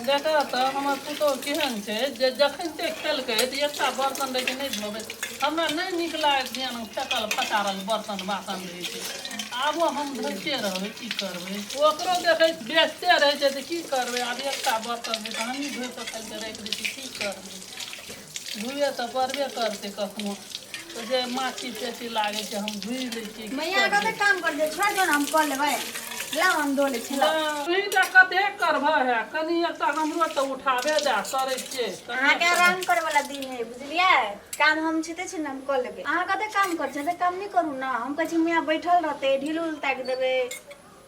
देखऽ तऽ हमर पुतहु केहन छै जे जखन ते खेलकै तऽ एकटा बर्तन रहै छै नहि धोबै हमरा नहि नीक लागैत ध्यान फेकल फचारल बर्तन बासन रहै छै आबो हम धोइते रहबै की करबै ओकरो देखै बेचते रहै छै तऽ की करबै आब एकटा बर्तन रहै छै हमही धोइ कऽ खाली राखि दै छी की करबै धुए तऽ पड़बे करतै कखनो तऽ जे माछी पेटी लागै छै हम धुइ लै छियै की मैया करबै? कते काम कर दे छोड़ दो ना हम कऽ लेबै लाओ हम धो लै छी लाओ। हँ, तोहीं टा कते करबह है कनी एकटा हमरो तऽ उठाबे दए करै छियै कनी अहाँके एकटा- आराम करे वाला दिन है बुझलियै काम हम छिते छी ने हम कऽ लेबै अहाँ कते काम कर छै कम नहि करू ने हम कहै छी मैया बैठल रहतै ढील उल ताकि देबै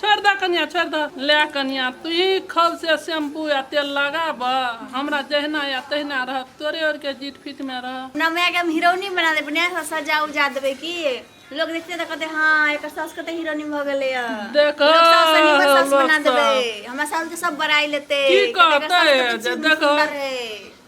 छोड़ि दऽ कनियाँ छोड़ि दऽ ले कनियाँ तूही खल से शैम्पू आ तेल लगाबऽ हमरा जहिना या तहिना रहत तोरे और के जीट फिट में रह अपना माय के हम हीरोइनी बना देबै ने से सजा उजा देबै की लोग देखते तऽ कहते हाँ एकर सास कते हीरोइनी भऽ गेलै या देखऽ, लोग सास से नीमन सास लोग बना सब। देबै हमरा सास के सब बड़ाई लेतै की कहते जे देखऽ।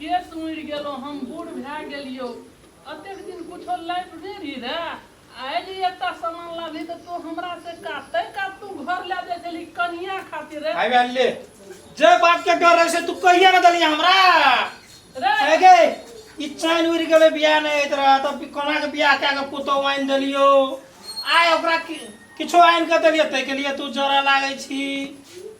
केश उड़ि गेलहुँ हम बूढ़ भए गेलियौ अतेक दिन कुछो लाइफ नहि रही रहे आयल एकटा सामान लाबी तऽ तू हमरा से काट तै काट तू घर लए जाइ छली कनिया खातिर रे आबि आयल ले जे बात के डर रहे से तू कहिया ना दलिया हमरा रे है गे ई चैन उड़ि गेलै बियाह नहि होइत रहे तब कोना के बियाह कए के पुतहु आनि देलियौ आइ ओकरा कि- किछो आनि के देलियै ताहिके लिए तू जरऽ लागै छी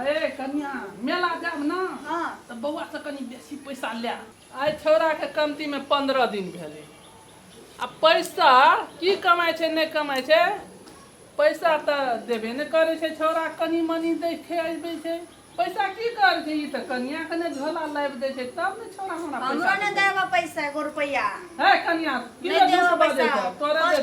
अये कनिया मेला जाब ना हां त बौआ से कनी बेसी पैसा ले आय छोरा के कमती में 15 दिन भेले आ पैसा की कमाय छे नै कमाय छे पैसा त देबे नै करे छे छोरा कनी मनी दे खे आबे छे पैसा की कर छे ई त कनिया के नै झोला लाइब दे छे तब ने छोरा हमरा पैसा हमरा नै देबा पैसा 1 रुपया है कनिया की दे तोरा दे तोरा दे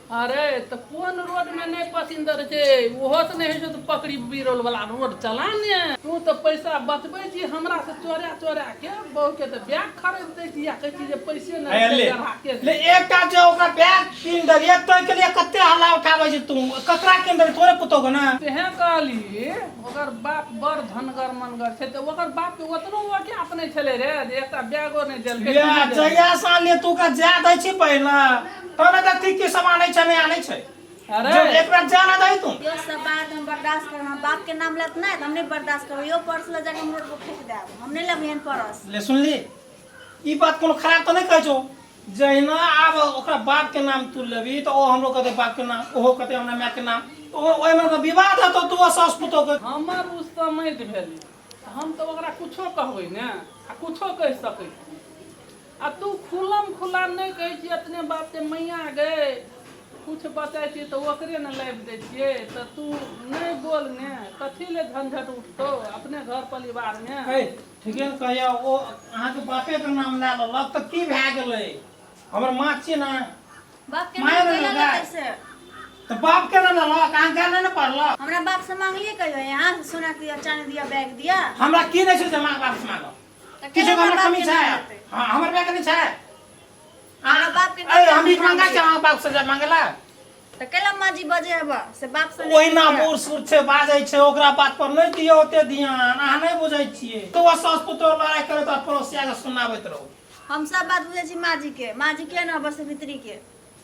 अरे तऽ कोन रोडमे नहि पसिंदर छै ओहो तऽ नहि होइ छौ तऽ पकड़ी बिरोल वाला रोड चला ने तू तऽ पैसा बचबै छी हमरा से चोरा चोरा के बहु के तऽ बैग खरीद दै छी या कहै छी जे पैसे आय नहि ले चढ़ा के ले एकटा जे ओकरा बैग कीन देलियै तोय के लिए कते हल्ला उठाबै छै तू ककरा कीन देलियै तोरे पुतोह के ने तेहे कहली ओकर बाप बड़ धनगर मनगर छै तऽ ओकर बाप के ओतनो ओके अपने छलै रे जे एकटा बैगो नहि देलकै इएह जहिया से आनलियै तू ओकरा जाय दै छी पहिले तोरा का की की सामान है चने आने छै अरे जो एक बार जाना दही तू यो सब बात हम बर्दाश्त कर हम बाप के नाम लेत नहीं तो हम नहीं बर्दाश्त करो यो पर्स ले जाके हम रोड पर फेंक देब हम नहीं लेब एहन पर्स ले सुन ली ई बात कोनो खराब तो नहीं कहै छौ जहिना आब ओकरा बाप के नाम तू लेबी तो ओ हमरो कहते बाप के नाम ओहो कहते हमरा माय के नाम तो ओ- ओहिमे तो विवाद हेतौ तू आ सास पुतौ के हमर उससे मति भेल हम तो ओकरा कुछो कहबै ने आ कुछो कहि सकै छी आ तू खुलम खुला नहि कहै छी एतने बात जे मैया गए किछु बचै छी तऽ ओकरे ने लाबि दै छियै तऽ तू नहि बोल ने कथी ले झंझट उठतौ अपने घर परिवार मे है ठीके ने कहैया ओ अहाँके बापे के नाम लए लेलक तऽ की भए गेलै हमर माँ छियै ने बाप के माया नाम नहि कैला लगा। लगा से तऽ बाप के ने लेलक अहाँ गाय नहि ने पढ़लक हमरा बाप से मांगलिए कहियो यहाँ सोना दिया चांदी दिया बैग दिया हमरा की नहि छै से माँ बाप से मांगब तऽ किछु केना हमर बाप कमी के छै नहि हेतै? हँ, हमर बे कमी छै हमरा बाप के अरे हम भीख मांगा छै अहाँ बाप से जाय मांगेला तऽ कैला माँ जी बजे हबा से बाप से नहि ओहिना किछु बूढ़ सूढ़ छै बाजै छै ओकरा बात पर नहि दियौ ओते ध्यान अहाँ नहि बुझै छियै तो सास पुतोह लड़ाइ करत आ पड़ोसिया के सुनाबैत रहू हम सब बात बुझै छी माँ जी के माँ जी के ना बस भित्री के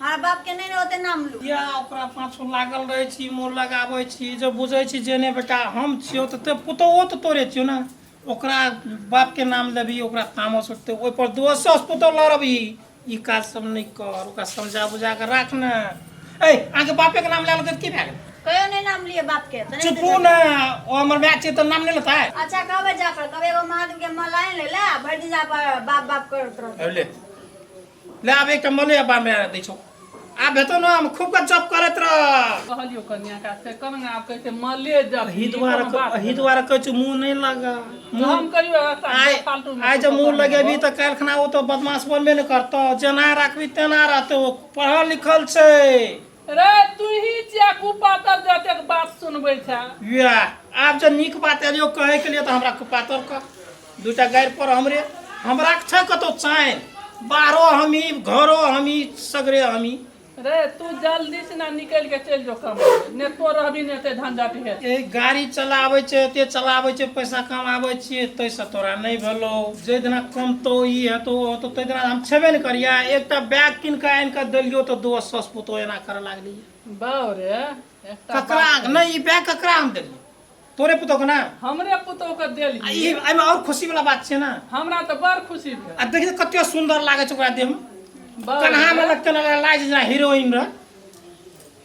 हमारा बाप के नहीं रहते नाम लू या ओकरा पाछू लागल रहै छी मोन लगाबै छी जे बुझै छी जे नहि बेटा हम छियौ तऽ ते पुतौहो तऽ तोरे छियौ ने ओकरा बापके नाम लेबही ओकरा तामस उठतै ओहिपर दोसरसँ पुतौ लड़बही ई काज सब नहि कर ओकरा समझा बुझा कऽ राख ने ए अहाँके बापेके नाम लए लेतै तऽ की भए गेल कहियो नहीं नाम लिए बाप के तो नहीं चुपू देते। ने ओ हमर माय छियै तऽ नाम नहि लेतै अच्छा कहबे जा पर कभी एगो महादेव के मलाइन ले ले आ भरि दिन जा पर बाप बाप करत रहते अरे ले ले आब एकटा मले अब्बा मे दै छौ आब भेटो ना हम खूब गजब करैत रह कहलियो कन्या का से कर ना आप कैसे मले जब अही द्वारा अही द्वारा कहै छौ मुंह नहीं लगा मुंह हम कहियो ऐसा आइ फालतू में आइ जब कुछ मुंह करना लगेबी हो। तऽ काल्हि खना ओ तऽ बदमाश बनबे ने करतौ जेना राखबी तेना रहतौ ओ पढ़ल लिखल छै रे तूही छिया कुपातर जे एतेक बात सुनबै छै या आब जे नीक बात एलियो कहै के लिए तऽ हमरा कुपातर कह दूटा गाड़ि पर हमरे हमरा छै कतौ चाइन बाहरो हमी घरो हमी सगरे हमी रे तू जल्दी से ना निकल के चल जो कम ने तो रहबी ने ते झंझट हे ए गाड़ी चलाबै छै एते चलाबै छै पैसा कमाबै छियै ताहिसँ तोरा नहि भेलौ जाहि दिना कमतो ई हेतौ ओ हेतौ ताहि दिना हम छेबे ने करियै एकटा बैग कीन कऽ आनि कऽ देलियौ तऽ दोस्त सस पुतौ एना करऽ लागली बाउ रे एकटा ककरा बात कही। नहि ई बैग ककरा हम देलियै तोरे पुतौ के ने हमरे पुतोह के आ देली ई एहिमे आओर खुशी वाला बात छै ने हमरा तऽ बड़ खुशी भेल आ देखियौ कते सुन्दर लागै छै ओकरा देहमे बाउ कन्हा मे रे, लगते लगल लाज जेना हीरोइन रह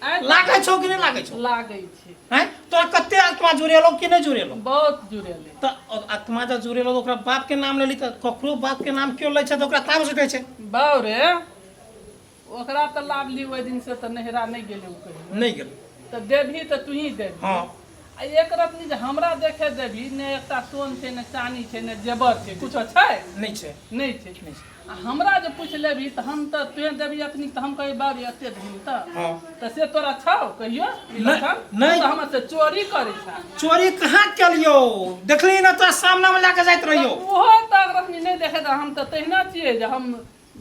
लागै छौ कि नहि लागै छौ लागै छै हैं तो कते आत्मा जुड़ेलो कि नहीं जुड़ेलो बहुत जुड़ेले तो आत्मा जब जुड़ेलो तो ओकरा बाप के नाम लेली तो ककरो बाप के नाम क्यों लै छै तो ओकरा ताम सुटे छै बाउ रे ओकरा तो लाभ ली ओहि दिन से तो नहरा नहीं गेले नहीं गेले तो देवी तो तू ही देवी हाँ आ एक रत्नी जे हमरा देखे देबी ने एकटा सोन छै ने चानी छै ने जेबर छै कुछो छै नहि छै नहि छै नहि छै आ हमरा जे पूछ लेबी तऽ हम तऽ तुहे देबी अखनी तऽ हम कहबी बाबी एते धन तऽ हँ। तऽ से तोरा छौ कहियो ई नहि, लक्षण? नहि। तू तऽ हमर से चोरी करै छा चोरी कहाँ केलियो देखली ना तोरा सामना में लेके जाइत रहियो ओहो तऽ रखनी नहि देखे तऽ हम तऽ तहिना छियै जे हम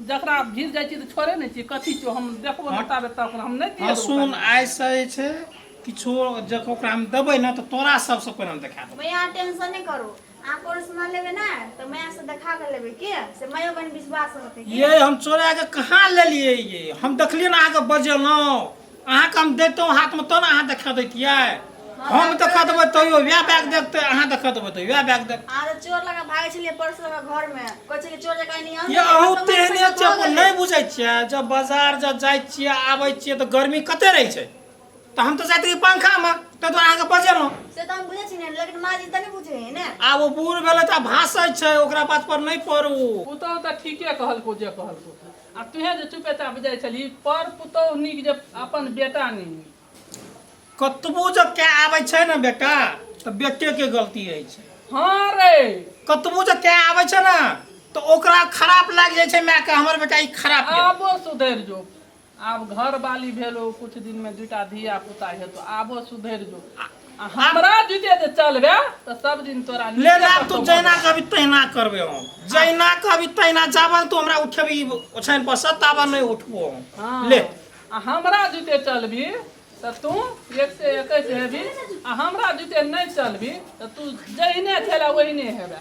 जकरा भिर जाइ छी तऽ छोड़े नहि छी कथी छौ हम देखबो नहि ताबे तक हम नहि दिए हँ सुन आइसँ जे छै किछो जखन ओकरा हम देबै ने तऽ तोरा सबसँ पहिने हम देखा देबै भैया टेंशन नहि करू अहाँ कोनो सामान लेबै ने तऽ मैया से देखा कऽ लेबै की से मैयो कनि विश्वास होतै की? ये हम चोरा के कहाँ लेलियै ये हम देखलियै ने अहाँके बजेलहुँ अहाँके हम देतौ हाथमे तो ने अहाँ देखा दैतियै हम देखा देबै तैयो वएह बैग देखते अहाँ देखा देबै तऽ वएह बैग देख अहाँ तऽ चोर लगा भागै छलियै पर्स लगा घर में कहै छलियै चोर जकाँ नहीं आउ ये अहू तेहने छै अपन नहि बुझै छियै जब बाजार जब जाइ छियै आबै छियै तऽ गर्मी कते रहै छै तऽ हम तऽ जाइत रही पंखामे ताहि दुआरे अहाँके बजेलहुँ से तऽ हम बुझै छी ने लेकिन माँ जी तऽ नहि बुझै है ने आब ओ बूढ़ भेलै तऽ भाषै छै ओकरा बात पर नहि पड़ू पुतहु तऽ ठीके कहलको जे कहलको आ तूहें जे चुपेचाप जाइ छलही पर पुतोह नीक जे अपन बेटा नहि नीक कतबो जे कए आबै छै ने बेटा तऽ बेटेके गलती होइ छै हँ रे कतबो जे कए आबै छै ने तऽ ओकरा खराप लागि जाइ छै मायके हमर बेटा ई खराप यऽ। आबो सुधरि जो आब घर बाली भेलो कुछ दिन में दूटा धिया पुता हेतो आबो सुधरि जो आ हमरा जुटे जे चलबे तऽ सब दिन तोरा ले नीचे लाब तू कतौ जहिना कहबी तहिना करबे हम जहिना कहबी तहिना जाबन तू हमरा उठेबी ओछाइन पर से ताबन नहि उठबो हम हाँ। ले आ हमरा जुटे चलबी तऽ तू एक से एकैस हेबी आ हमरा जुटे नहि चलबी तऽ तू जहिने छेला ओहिने हेबे